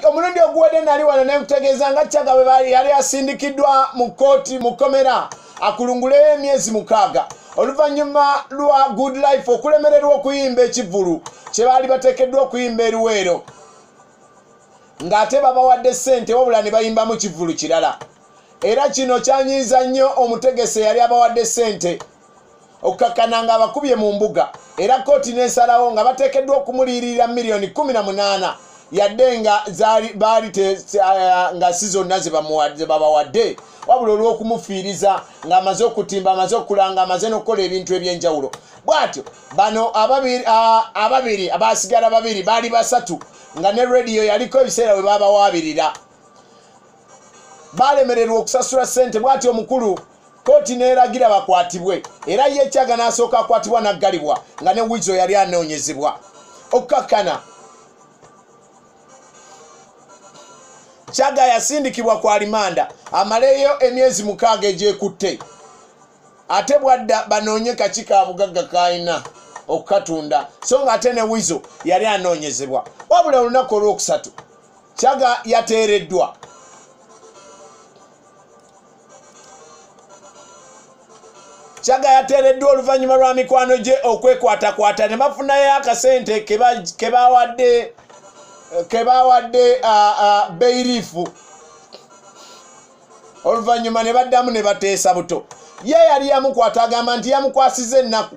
omulundi oguwedde nali wano ne nkutegeeza nga caga bwe yali asindikiddwa mu kkooti mu kkomera akulunguleyo emyezi mukaaga oluvannyuma lwa good life okulemererwa okuyimba ekivvulu kye baali bateekeddwa okuyimba eruweero ng'ate babawadde ssente wabula ne bayimbamu kivvulu kirala era kino kyanyiiza nnyo omutegese yali abawadde ssente okukakkana nga abakubye mu mbuga era kkooti n'esalawo nga bateekeddwa okumuliiririra miliyoni 18 yadde nga baali eh, nga si zonna zebabawadde wabula olw'okumufiiriza ng'amaze okutimba amaze okulanga amaze n'okukola ebintu eby'enjawulo bw'atyo bano ababiri abaasigala babiri baali basatu nga ne rediyo yaliko ebiseera we baabawaabirira baalemererwa okusasula ssente bw'atyo omukulu kkooti n'eragira bakwatibwe era ye kyaga n'asooka akwatibwa n'aggalibwa nga ne wizo yali anoonyezebwa okukkakkana kyaga yasindikibwa ku alimanda amaleyo emyezi mukaaga egyekutte ate bwadda banoonye kaki ka bugagga kaalina okukatunda so nga ate ne wizo yali anoonyezebwa wabula olunaku olwokusatu kyaga yateereddwa kyaga yateereddwa oluvannyuma lwa mikwano gye okwekwatakwata ne bafunayo akasente ke bawadde ke bawadde beirifu oluvannyuma ne baddamu ne bateesa buto ye yali yamukwata agamba nti yamukwasiza ennaku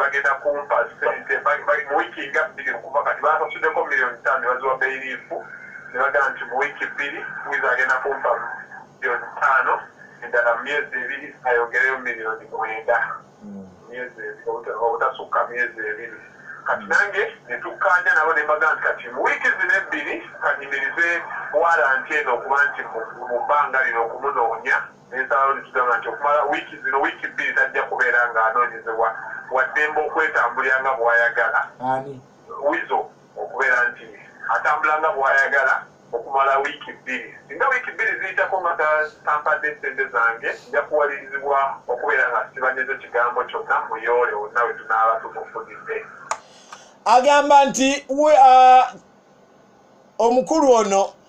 bagenda kumpa sente mu wiiki nga bbiri okuva kati basasudeko miliyoni ttaano nebaziwa beiriifu nebagamba nti mu wiiki bbiri wiza agenda kumpa miliyoni ttaano endala mu myezi ebiri ayongereyo miliyoni mwenda hmm. myezi obutasukka myezi ebiri kati nange netukkanya nabo nembaga nti kati mu wiiki zino ebbiri kanyimirize waranti eno okuba nti mu bbanga lino okumunoonya ensalawo nekigamba nti okumala wiiki zino wiiki bbiri tajja kubeera nga anoonyezebwa waddembe okwetambulira nga bwayagala ani wizo okubeera nti atambula nga bwayagala okumala wiiki bbiri singa wiiki bbiri ziyitako nga tampadde ssente zange nja kuwalirizibwa okubeera nga sibanyezo kigambo kyonna muyoole wonna we tunaaba tumufudidde agamba nti uh, omukulu ono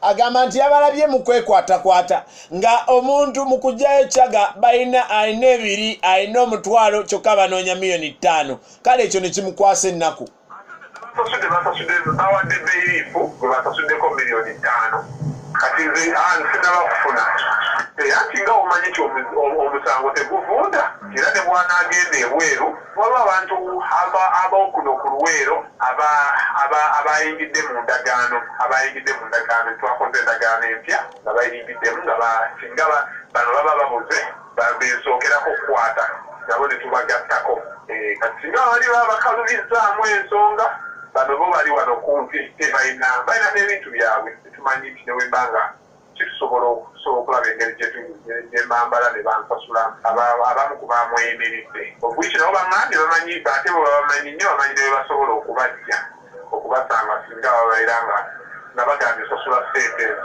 agamba nti yabalabye mu kwekwatakwata nga omuntu mu kugyayo caga balina alina ebiri alina omutwalo kyokka banoonya miliyoni ttaano kale ekyo ne kimukwasa ennaku basasude basasude bawadde beyirifu gwe basasuddeko miliyoni ttaano kati nze ah, sinabakufuna era nti nga omanyi nti omusango teguvunda era ne bwanaagenda ebweru Waliwo abantu ab'okuno ku Luweero abaayingidde mu ndagaano abaayingidde mu ndagaano twakoze endagaano empya nga bayingiddemu nga singa bano baba babuze bensookerako okukwata nabo ne tubagattako eh, kati singa bali baba bakalubizzaamu ensonga bano bo bali wano kumpi tebalina balina n'ebintu byabwe tetumanyi nti ne wemba nga kisobola okusobola okulaba engeri gyembambala ne bansasula abamu ku bamweyimiridde obwiki nabo bangambye bamanyi ate bwe babamanyi nnyo bamanyi ne bebasobola okubajja okubasanga singa bababeera nga nga bagambye osasula sente ezo